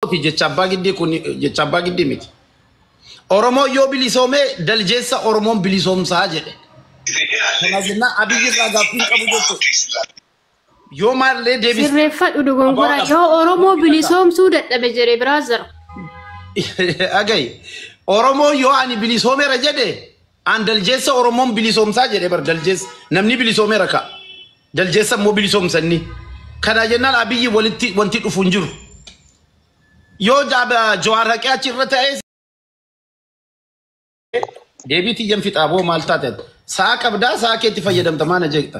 Oromooti jecha abbaa giddii kun jecha abbaa giddii miti. Oromoon yoo bilisoomee daljeessa Oromoon bilisoomsaa jedhe. Kana jennaan abiyyi irraa gaaffiin qabu jechuudha. Yoo maallee deebisa. Sirreeffadhu dogongora yoo Oromoo bilisoomsuu dadhabe jedhe brother. Agayi. Oromoon yoo ani bilisoomeera jedhe An daljeessa oromoon bilisoomsaa jedhe bar daljeessa namni bilisoomeera ka daljeessa immoo bilisoomsanni kanaa jennaan abiyyi walitti wanti dhufu hin jiru yoo jaaba jawaar haqee achi irra ta'ee deebii tiyyan fixaa boo maal taate sa'a qabdaa sa'a keetti fayyadamta maana jeekta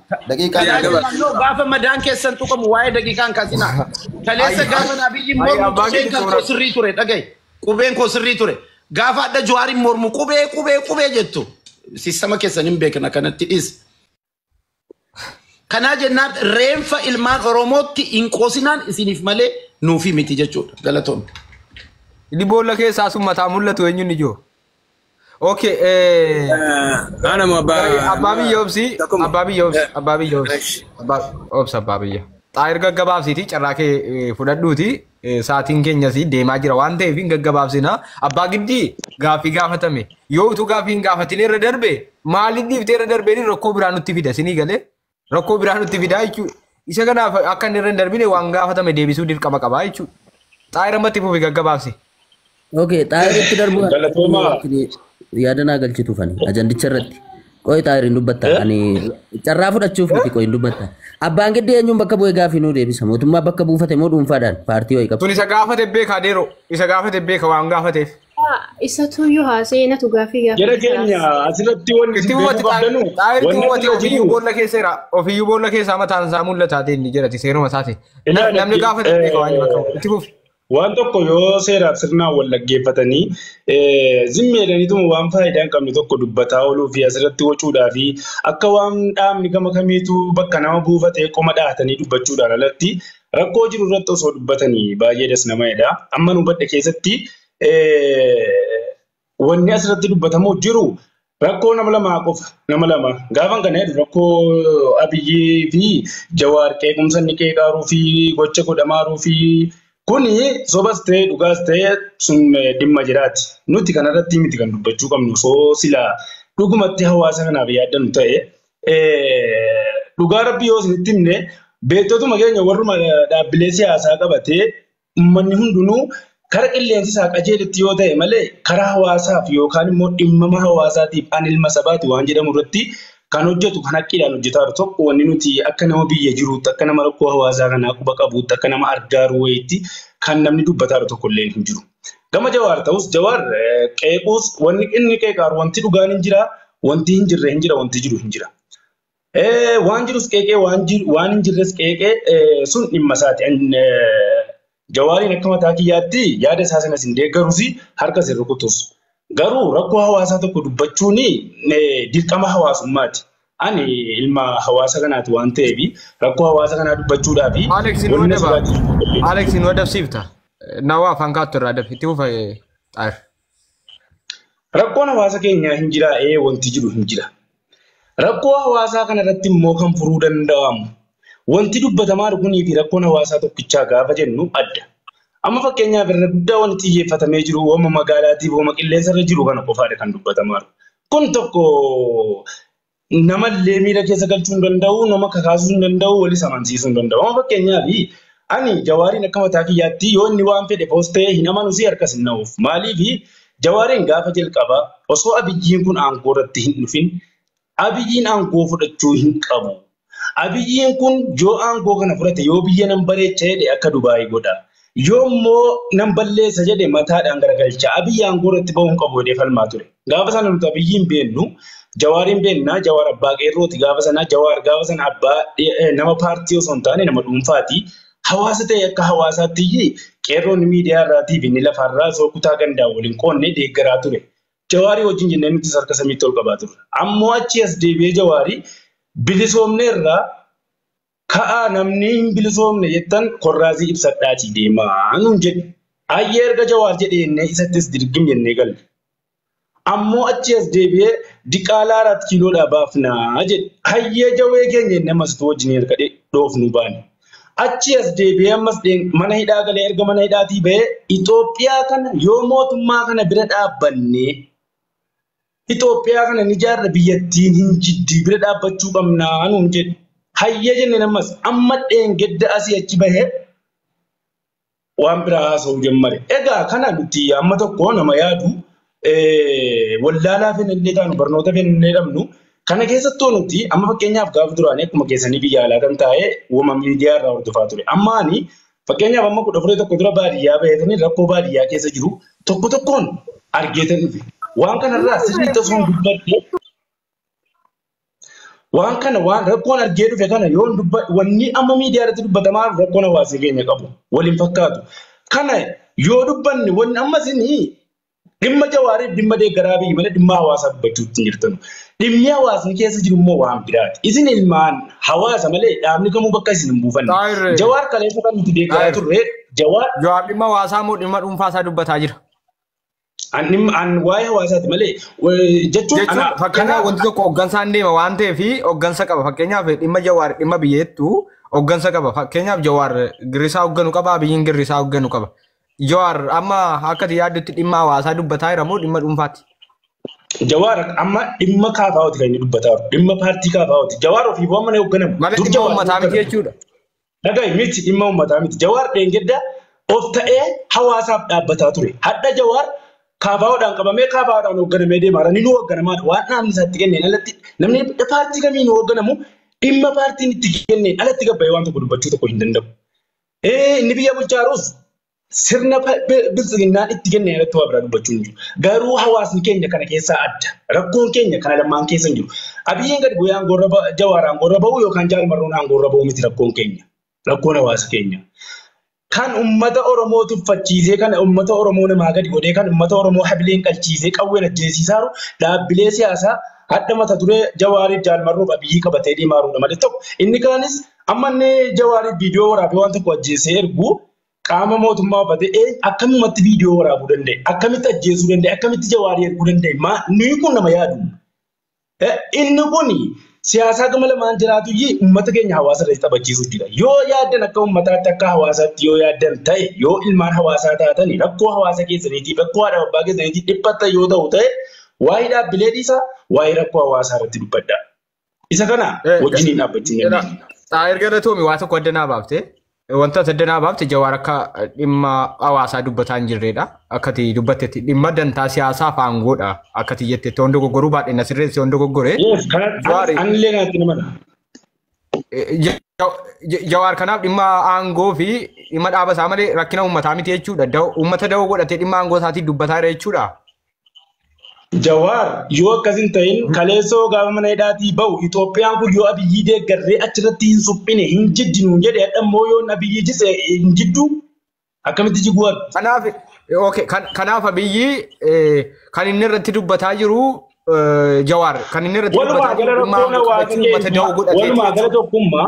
Daqiiqaan Tajaajila eegala. Tajaajila no gaafa madaan keessan tuqamu waa'ee daqiiqaan kaasina. Kaleessa Ayi, gaafa Abiyyi ayi mormu abbaa qubeen keetti kan koo soorata. sirrii ture dhagaye. Qubeen koo sirrii ture. Gaafa adda Jawaariin mormu qubee qubee qubee jettu. Sistama keessan hin beekna kanatti dhis. Kanaa jennaan reenfa ilmaan Oromootti hin qoosinaan isiniif malee nuufi miti jechuudha. Galatoomne. Inni boolla keessaa sun mataa mul'atu eenyuun ijoo? Okay, eh, Ana mo ba. Garee abbaa biyya obsi, Takuma. abbaa biyya obsi, abbaa biyya obsi, Fresh. abbaa obsi abbaa biyya. Xaayir gaggabaabsiiti carraa kee eh, fudhadhuuti eh, sa'aatiin keenyas deemaa jira waan ta'eef hin gaggabaabsina. Abbaa giddii gaaffii gaafatame yoo utuu gaaffii hin gaafatin irra darbe maaliif dhiiftee irra darbeen rakkoo biraa nutti fida sinii galee Rakkoo biraa nutti fidaa jechuudha. Isa kanaaf akka inni irra hin darbine waan gaafatame deebisuu dirqama qabaa jechuudha. Xaayira matti fufi gaggabaabse. Okay, xaayira itti darbu Galatoomaa. yaada naa galchitu fani ajandicha irratti. Qoy xaayira hin dubbatta. Ani carraa fudhachuuf miti qoy hin dubbatta. Abbaan giddii eenyuun bakka bu'ee gaafii nuu deebisa. Mootummaa bakka buufate moo dhuunfaadhaan paartii wayii qabu. Tun isa gaafate beekaa deeroo. Isa gaafate beeka waan gaafateef. Haa, Isatuyyuu haasa'ee natu gaaffii Jara gaafate keenya siyaasa. asirratti wanni Itti isin beekuu mooti qabdanu xaayirti wanni mooti akkana ofiyyuu jiru boolla keessa jira. Ofiyyuu boolla keessa mataan isaa mul'ata inni jirati seeruma isaati. Na- Namni ilaalatti gaafate hin beeku waan inni bakka itti fufi. waan tokko yoo seeraaf sirnaan wal dhaggeeffatanii zimmi jedhaniituma waan faayidaa hin qabne tokko dubbataa ooluu fi asirratti wacuudhaa fi akka waan dhaabni gama kamiitu bakka nama buufatee qoma dhahatanii dubbachuudhaan alatti Rakkoo jiru irratti osoo dubbatanii baay'ee das nama jedha. Amma nu badhe keessatti wanni asirratti dubbatamu jiru rakkoo nama lamaa qofa. Nama lama. Gaafan kana jedhu rakkoo Abiyyii fi Jawaar qeequmsa inni qeeqaaruu fi gocha godhamaaruu fi kuni sobas ta'e dhugaas ta'e sun dhimma jiraati. Nuti kanarratti miti kan dubbachuu qabnu osoo silaa dhugumatti hawaasa kanaaf yaaddannu ta'e Dhugaa rabbii yoo isinitti himne beektotuma keenya warruma dhaabbilee siyaasaa qabatee uummanni hundinuu kara qilleensi isaa qajeelitti yoo ta'e malee karaa hawaasaaf yookaan immoo dhimmama hawaasaatiif an ilma sabaati waan jedhamu irratti kan hojjetu kan haqqiidhaan hojjetaa jiru tokko wanni nuti akka nama biyya jiruutti akka nama rakkoo hawaasaa kanaa quba qabuutti akka nama argaa jiru wayiitti kan namni dubbataa jiru tokko illee hin jiru. Gama Jawaar ta'us Jawaar qeequus wanni inni qeeqaaru wanti dhugaan hin jira, wanti hin jirre hin jira, wanti jiru hin jira. Waan jirus qeeqee waan hin jirres qeeqee sun dhimma isaati. Jawaariin akka mataa kiyyaatti yaada isaa sanas hin deeggarus harkas hin rukutus. Garuu rakkoo hawaasaa tokko dubbachuun dirqama hawaasummaati. Ani ilma hawaasa kanaati waan ta'eef rakkoo hawaasa kanaa dubbachuudhaa fi Alex nu wanna adaba. sirraa Alex nu adabsiifta. Nawaa afaan kaattu irraa adab. Itti fufa xaar. Rakkoon hawaasa keenyaa hin jiraa ee wanti jiru hin jira. Rakkoo hawaasaa kana irratti immoo kan furuu danda'amu wanti dubbatamaa jiru kunii fi rakkoon hawaasaa tokkichaa gaafa jennu adda. Amma fakkeenyaaf irra guddaa wanti xiyyeeffatamee jiru hooma magaalaatiif hooma qilleensa irra jiru kana qofaadha kan dubbatamaa jiru. Kun tokko nama illee miira keessa galchuu hin danda'u, nama kakaasuu hin danda'u, walis amansiisuu hin danda'u. Amma fakkeenyaaf ani jawaariin akka mataa kiyyaatti yoo inni waan fedhe poostee hin amanu si harkas hin na'uuf. Maaliif jawaariin gaafa jalqaba osoo abiyyiin kun aangoo irratti hin dhufin abiyyiin aangoo fudhachuu hin qabu. Abiyyiin kun yoo aangoo kana fudhate yoo biyya nan bareecha jedhe akka Dubaayii godha. Yoo immoo nan balleessa jedhe mataadhaan garagalcha. Abiyyi aangoo irratti ba'uu hin qabu jedhee falmaa ture. Gaafa sana nuti Abiyyiin beennu Jawaariin beenna. Jawaar abbaa qeerrooti gaafa sana. Jawaar gaafa sana abbaa nama paartii osoo hin taane nama dhuunfaati. Hawaasa ta'e akka hawaasaatti qeerroon miidiyaa irraatii fi inni lafaarraa osoo kutaa gandaan waliin qoodne deeggaraa ture. Jawaarii wajjin jennee nutis harka samiitti ol qabaa turre. Ammoo achii as deebi'ee Jawaarii bilisoomneerra ka'aa namni hin bilisoomne jettan korraazii ibsadhaatii deemaa nuun jedhe. Ayyee erga Jawaar jedhe jennee isattis dirgim jennee galle. Ammoo achii as deebi'ee diqaalaa araat kiiloodhaa baafnaa jedhe. Hayyee jawee keenya jennee ammas utuu wajjinii harka dhoofnuu baane. Achii as deebi'ee ammas mana hidhaa galee erga mana hidhaatii ba'ee Itoophiyaa kana yoo mootummaa kana bira dhaabbannee Itoophiyaa kana ni jaarra biyyattiin hin jiddii bira dhaabbachuu qabnaa nuun jedhe. Hayyee jenneen ammas amma dheengadda asii achi bahee waan biraa haasa'uu jammare. Egaa kana nuti amma tokko nama yaadu wallaalaa fennillee taanu barnoota fennillee dhabnu kana keessattuu nuti amma fakkeenyaaf gaafa duraanii akkuma keessanii biyya alaa kan taa'ee uumama miidiyaa irraa hordofaa ture. Amma ani fakkeenyaaf amma kudha furee tokko dura baadiyyaa baheetanii rakkoo baadiyyaa keessa jiru tokko tokkoon argeetan dhufe. Waan kanarraa sirrii tasuun dubbadde Waan kana waan rakkoon argee dhufe kana yoon dubbadhu wanni amma miidiyaa irratti dubbatamaa jiru rakkoon hawaasii keenya qabu waliin fakkaatu. Kana yoo dubbanne wanni amma isin dhimma jawaariif dhimma deeggaraa biyyi malee dhimma hawaasaa dubbachuu ittiin jirtanu. Dhimmi hawaasni keessa jiru immoo waan biraati. Isin ilmaan hawaasa malee dhaabni kamuu bakka isin hin buufanne. Xaahir, Jawaar kaleessa kan nuti deeggaraa Xaahir. turre jawaar Jawaar dhimma hawaasaa moo dhimma dhuunfaa isaa dubbataa jira? Ani an waa'ee hawaasaati malee eh, jechuun ana Jechuun fakkeenyaaf wanti tokko hoggansaan deema waan ta'eef hoggansa qaba. Fakkeenyaaf dhimma jawaar dhimma biyyeettu hoggansa qaba. Fakkeenyaaf jawaar girrisaa hogganu qaba biyyiin girrisaa hogganu qaba. Jawaar amma akka ati yaaddutti dhimma hawaasaa dubbataa jira moo dhimma dhuunfaati? Jawaar amma dhimma kaafaawati kan inni dubbataa jiru. Dhimma paartii kaafaawati. Jawaar ofiif waan mana hoogganama. Malee Dur dhimma Jawaar uummataa miti hoogganama. jechuudha. Dhagahi miti dhimma uummataa miti. Jawaar dheengadda of ta'ee hawaasaaf dhaabbataa ture. Hadha Jawaar kaafaa'oodhaan qabamee kaafaa'oodhaan hoogganamee deema. Har'a ni hoogganamaadha. Waan dhaabni isaa itti kenneen alatti namni paartii kamiin hoogganamu dhimma paartiin itti kenneen alatti gabbayee waan tokko dubbachuu tokko hin danda'u. Inni biyya bulchaa jirus sirna biltsiginnaan itti kenne irratti waa biraa dubbachuu hin jiru. Garuu hawaasni keenya kana keessaa adda. Rakkoon keenya kana lamaan keessa hin jiru. Abiyyiin gadi bu'ee aangoorra jawaar aangoorra ba'uu yookaan jaalmarroon aangoorra ba'uu miti rakkoon keenya. Rakkoon hawaasa keenya. Kan uummata Oromoo tuffachiisee kan uummata Oromoo namaa gadi godhee kan uummata Oromoo habileen qalchiisee qawween ajjeesiisaa jiru dhaabbilee siyaasaa hadha mata duree jawaariif jaalmarroof abiyyii qabatee deemaa jirudha malee tokko. Inni kaanis amma inni jawaariif viidiyoo waraabee waan tokko ajjeesee ergu Qaama mootummaa uffate ee akkamumatti viidiyoo waraabuu danda'e? Akkamitti ajjeesuu danda'e? Akkamitti jawaarii erguu danda'e? Maa nuyi kun nama yaadu. Eh, Inni kun siyaasaa gama lamaan jiraatu iyyii uummata keenya hawaasa irratti taphachiisuuf jira. Yoo yaaddan akka uummataatti akka hawaasaatti yoo yaaddan ta'e yoo ilmaan hawaasaa taatani rakkoo hawaasa keessaniitiif rakkoo haadha abbaa keessaniitiif dhiphattan yoo ta'u ta'e waa'ee dhaabbilee dhiisaa waa'ee rakkoo hawaasaa irratti dubbadhaa. Isa kana Eh, wajjiniin dhaabbachuu hin Jira. dandeenye. Taa erga irra tuumi waa tokko adda naa baafte. Wanta adda naa baafte jawaar akka dhimma hawaasaa dubbataa hin jirredha. Akkati dubbattetti dhimma dantaa siyaasaa fi aangoodha. Akkati jettetti waan dogoggoruu baadhe na sirreessi waan dogoggore. Yes, kana Jawaari. an illee kanatti nama dha. Eh, ja- ja- Jawaar kanaaf dhimma aangoo fi dhimma dhaaba isaa malee rakkina uummataa miti jechuudha. Da- Uummata da'oo godhatee dhimma aangoo isaatiin dubbataa jira jechuudha. Jawaar yoo akkas hin ta'in kaleessoo gaafa mana hidhaatii ba'u Itoophiyaan kun yoo abiyyii deeggarree achirratti hin suphine hin jiddi nuun jedhe hadha immoo yoo abiyyii jise hin jiddu akkamitti jiguu argu. Kanaaf okay, kan- kanaaf abiyyi eh, kan inni irratti dubbataa jiru eh, jawaar kan inni irratti Walumaa dubbataa gala jiru dhimma rakkoon hawaasa akkamitti uummata da'oo keenya godhate walumaa gala tokkummaa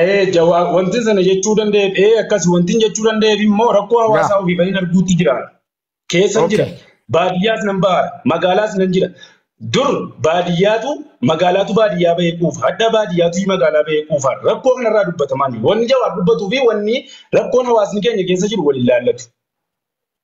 Ee jawaa wanti sana jechuu danda'eef ee akkas wanti jechuu danda'eef immoo rakkoo Yaa. hawaasaa ofii bahin arguutti jira. Keessan Okay. jira. Baadiyyaas nan ba'a. Magaalaas nan jira. Dur baadiyyaatu magaalaatu baadiyyaa bahee quufa. Hadha baadiyyaatu magaalaa bahee quufa. Rakkoo kanarraa dubbatamaa jiru. Wanni jawaar dubbatuu fi wanni rakkoon hawaasni keenya keessa jiru wal ilaallatu.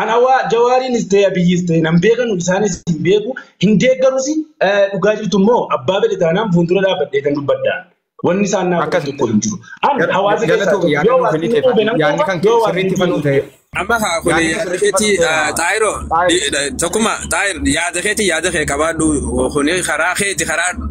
Ana waa jawaariinis ta'e abiyyiis ta'e nan beekanu isaanis hin beeku hin deeggarus dhugaa jirtu immoo abbaa fedhe taanaan fuuldura dhaabbadhee kan dubbadhaan wanni isaan naa godhan tokko hin jiru. An hawaasa keessaa tokko yoo hawaasni nu quube nan quuba yoo hawaasni nu quube ta'e. Amma haa kun yaada keeti xaayiro tokkuma xaayir yaada keeti yaada kee qabaadhu kun karaa keeti karaa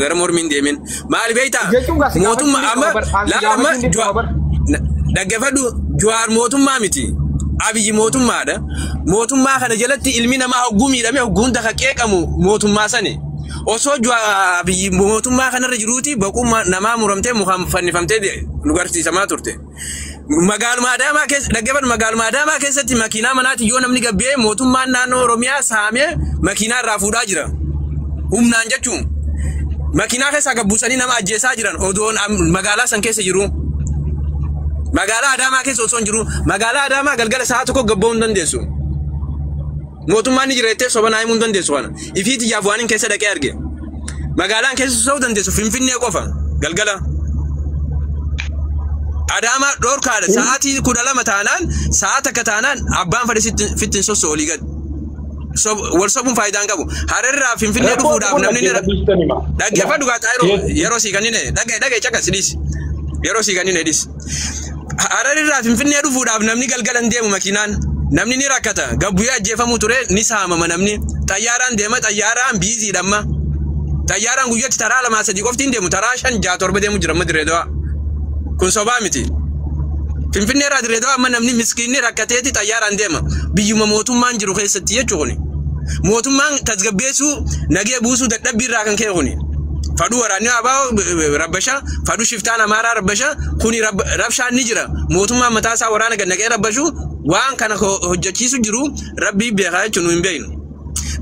Gara mormiin deemin. Maal beektaa? Jechuun gaa si Mootummaa gaafachuun amma dirqama bar. Aan si laala amma gaafachuun dirqama Juwaar bar. na- dhaggeeffadhu Juwaar mootummaa miti. Abiyyi mootummaadha. Mootummaa kana jalatti ilmi namaa hogguu miidhame hogguu hunda kan qeeqamu mootummaa sani. Osoo Juwaar Abiyyi mootummaa kanarra jiruuti boqummaa namaa muramtee mukaan fannifamtee de- nu garsiisamaa turte. Magaaluma Adaamaa keessa dhaggeeffadhu magaaluma Adaamaa keessatti makiinaa manaatiin yoo namni gabbee mootummaan naannoo Oromiyaa saamee makiinaa irraa fuudhaa jira. Humnaan jechuun makiinaa keessaa gabbuusanii nama ajjeesaa jiran odoon am- magaalaa san keessa jiru. Magaalaa Adaamaa keessa osoo hin jiru magaalaa Adaamaa galgala sa'a tokko gabba'uu hin dandeessu. Mootummaan ni jira jettee soba naa himuu hin dandeessu kana. Ifii tiyyaaf waan hin keessa dhaqee arge. Magaalaan keessa sosoo dandeessu Finfinnee qofa galgala. Adaamaa dhorkaadha sa'aatii kudha lama taanaan sa'a takka taanaan abbaan fadhi sitti fittiin sosso olii gad. Sob- Wal sobuun faayidaa hin qabu. Hararraa Finfinnee Rakkoo dhufuudhaaf tokko namni ni dhaggeeffadhu dhiistani ma. dhaggeeffadhu gaa xaayiroo Yes. yeroo sii kennine dhagge dhagge caqas dhiis. Yeroo sii kennine dhiis. Harar irraa Finfinnee dhufuudhaaf namni galgala hin deemu makiinaan. Namni ni rakkata. Gabbuyee ajjeefamuu ture ni saamama namni. Xayyaaraan deema xayyaaraan biiziidha amma. Xayyaaraan guyyatti taraa lamaa sadii qofti hin deemu taraa shan ja'a torba deemu jira amma dirree dawaa. Kun sobaa miti. Finfinnee irraa dirree dawaa amma namni miskiinni rakkateeti xayyaaraan deema. Biyyuma mootummaan jiru keessatti jechuun kuni. Mootummaan tasgabbeessuu nagee buusuu dadhabbii irraa kan ka'e kuni. Fadhu waraanni abaa rabbasha, fadhu shiftaan amaaraa rabbasha, kuni rab- rabshaan ni jira. Mootummaan mataa isaa waraana gad naqee rabbashu waan kana ho- hojjechiisu jiru rabbii beekaa jechuun nu hin beeknu.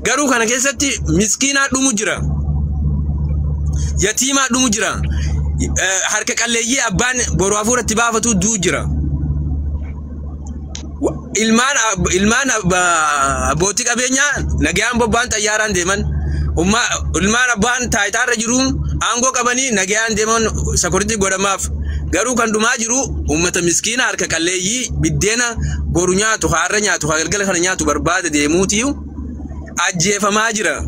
Garuu kana keessatti miskiinaa dhumu jira. Yatiimaa dhumu jira. Eh, Harka qalleeyyii abbaan boru hafuuratti baafatu du'u jira. ilmaan ilmaan abbootii qabeenyaa nagayaan bobba'an xayyaaraan deeman ummaa ilmaan abbaan taayitaarra jiruun aangoo qabanii nagayaan deeman sakuritii godhamaaf garuu kan dhumaa jiru uummata miskiina harka qalleeyyii biddeena boru nyaatu haarra nyaatu galgala kana nyaatu barbaada deemuuti. ajjeefamaa jira.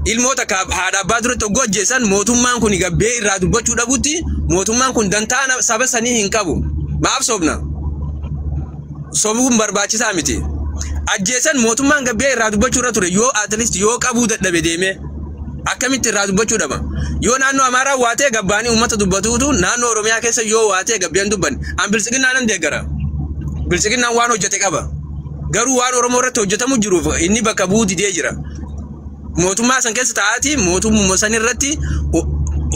Ilmoo takka haadha abbaa duratti hogguu ajjeessan mootummaan kun gabbee irraa dubbachuu dhabutti mootummaan kun dantaa na- saba sanii hin qabu. Maaf sobna? Sobuun barbaachisaa miti. Ajjeessan mootummaan gabbee irraa dubbachuu irra ture yoo at least yoo qabuu dadhabe deemee akkamitti irraa dubbachuu dhaba. Yoo naannoo Amaaraa waatee gabbaanii uummata dubbatuutu naannoo Oromiyaa keessa yoo waatee gabbeen dubban an biltsiginnaa nan deeggara. Biltsiginnaan waan hojjete qaba. Garuu waan Oromoo irratti hojjetamu jiruuf inni bakka bu'uu didee jira. Mootummaa san keessa taa'aati mootummaa san irratti o-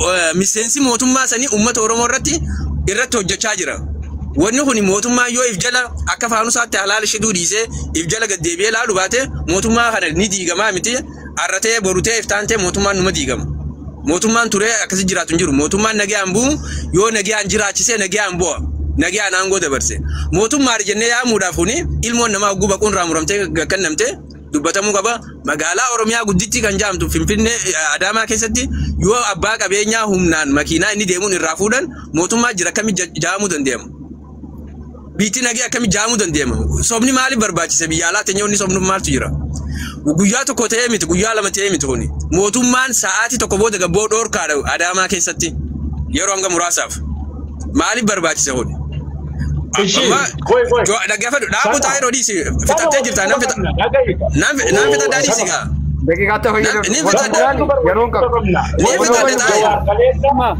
o- miseensi mootummaa sanii uummata Oromoo irratti irratti hojjechaa jira. Wanni kun mootummaa yoo if jala akka faanusaatti halaala shiduu dhiisee if jala gad deebi'ee ilaalu baate mootummaa kana ni diigamaa miti Arra ta'ee boru ta'ee iftaan ta'ee mootummaan numa diigama. Mootummaan turee akkasi jiraatu hin jiru. Mootummaan nagayaan bu'u yoo nagayaan jiraachisee nagayaan bu'a. Nagayaan aangoo dabarse. Mootummaa jennee yaamuudhaaf kuni ilmoon namaa hogguu baquun irraa muramtee kennamte dubbatamuu qaba. Magaalaa Oromiyaa guddittii kan jaamtu Finfinnee Adaamaa keessatti yoo abbaa qabeenyaa humnaan makiinaa inni deemuun irraa fuudhan mootummaa jira akkamitti jaamuu danda'ama? Biitti nagee akkami jaamuu dandeema? Sobni maaliif barbaachise biyya alaa teenya inni sobnuuf maaltu jira? Guyyaa tokko ta'ee miti, guyyaa lama ta'ee miti kuni. Mootummaan sa'aatii tokko booda gabboo dhoorkaadha Adaamaa keessatti yeroo hanga muraasaaf. Maaliif barbaachise kuni? Ishii, Amma- koi, koi. Jo- Dhaggeeffadhu, dhaabuu taa'ee dhoodhiisi. Fixattee jirta, nan fixa. Nan fi- nan fixa daadhiisi gaa. Daqiiqaa ta'e Ni- ni fayyadamu. fixadha. Yeroon qabu. Ni fixadha taa'ee.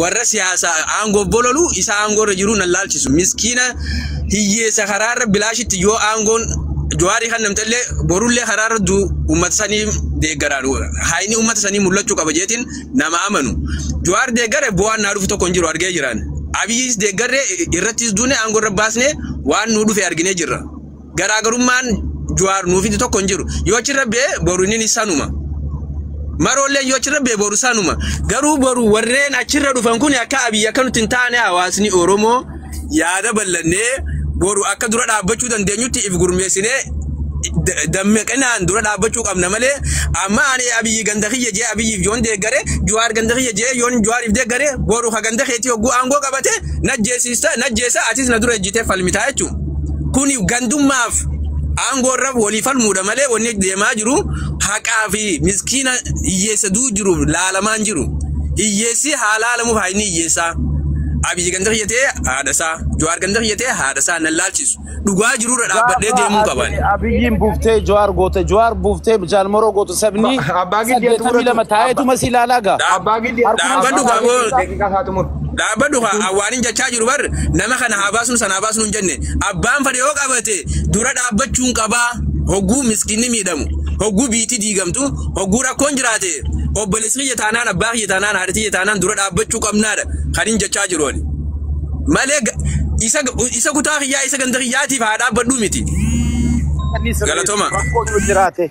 warra siyaasa aangoo bololu isa aangoo irra jiru nan laalchisu miskiina hiyyeessa karaa irra bilaashitti yoo aangoon jawaarii kan namtallee borullee karaa irra du uummata sanii deeggaraan haayini uummata sanii mul'achuu qaba jeetiin nama amanu jawaar deeggare bu'aan naa dhufu tokko hin jiru argee jiraan abiyyis deeggarre irrattis duune aangoo irra baasne waan nuu dhufe arginee jirra. garaagarummaan Juwaar nuu fide tokko hin jiru. Yoo achirra bee boru inni ni sanuma. Maroolleen yoo achirra bee boru sanuma. Garuu boru warreen achirra dhufan kun akka abiyyi akka nuti hin taane hawaasni Oromoo yaada bal'annee boru akka dura dhaabbachuu dandeenyutti if gurmeessinee da- dammaqinaan dura dhaabbachuu qabna malee amma ani abiyyi ganda kiyya jee abiyyiif yoon deeggare juwaar ganda kiyya jee yoon juwaariif deeggare boru ka ganda keetii hogguu aangoo qabate najjeesiisa najjeesa atis na dura ejjitee falmitaa jechuudha. Kun gandummaaf aangoo irra walii falmuudha malee wanni deemaa jiru haqaa fi miskiina hiyyeessa duu jiru laalamaan jiru. Hiyyeessi haa laalamuuf haa inni hiyyeessaa. Abiyyi ganda kiyya ta'ee haadha isaa. Jawaar ganda kiyya ta'ee haadha isaa nan laalchisu. Dhugaa jiru irra dhaabbadhee Gaafa deemuu qaban. ati abiyyiin buuftee jawaar goote jawaar buuftee jaalmaroo goote sabni Abbaa Giddii ati saddeetamii lama fudhatu. taa'eetuma si ilaalaa gaa. Abbaa Giddii Dhaabbadhu gamoo. daqiiqaa isaa xumur. Dhaabbadhu kaa an waanin jachaa jiru bar nama kana haa baasnu sana haa baasnu hin jenne abbaan fadhe yoo qabate dura dhaabbachuun qabaa hogguu miskinni miidhamu hogguu biitti diigamtu hogguu rakkoon jiraate obboleessi kiyya taanaan abbaa kiyya taanaan haadha kiyya taanaan dura dhaabbachuu qabnaadha kan hin jachaa jiru ani malee ga- isa isa kutaa kiyyaa isa ganda kiyyaatiif haa dhaabbadhu miti Annis Galatoma. rakkoo yoo jiraate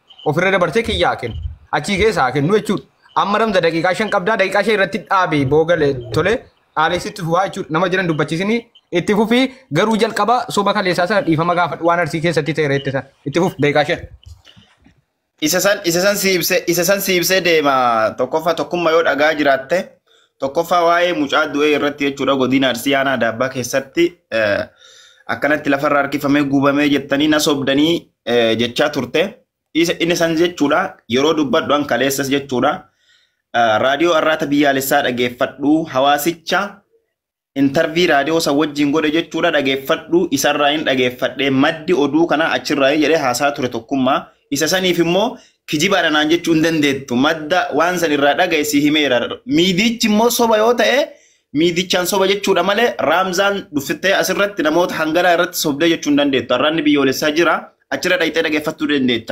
ofirra dabarsee kiyya haa kennu achii keessa haa kennu jechuudha amma ramza daqiiqaa shan qabdaa daqiiqaa shan irratti dhaabe boogale tole dhaaleessitti fufaa jechuudha nama jiran dubbachiisini itti fufii garuu jalqaba soba kaleessaa sana dhiifama gaafadhu waan arsii keessatti ta'e reette sana itti fuf daqiiqaa shan. Isa san isa san siibsee isa san siibsee deema tokkoffaa tokkummaa yoo dhagaa jiraatte tokkoffaa waa'ee mucaa du'ee irratti jechuudha godina Arsii aanaa Daabbaa keessatti eh, akkanatti lafarra harkifamee guubamee jettanii na sobdanii jechaa turte inni san jechuudha yeroo dubbadhu an kaleessas jechuudha raadiyoo arraata biyyaalessaa dhageeffadhu hawaasicha intarvii raadiyoo san wajjin godhe jechuudha dhageeffadhu isarraa hin dhageeffadhe maddi oduu kanaa achirraa jedhee haasaa ture tokkummaa isa saniif immoo kijibaadha naan jechuu hin dandeettu madda waan san irraa dhagaye si himeera miidiichi immoo soba yoo ta'e Miidichaan soba jechuudha malee Raamzaan dhuffittee asirratti namoota hanganaa irratti sobdee jechuun dandeettu. Arraanni biyyoolessaa jira. Achirra dhayxee dhageeffattuu dandeetta.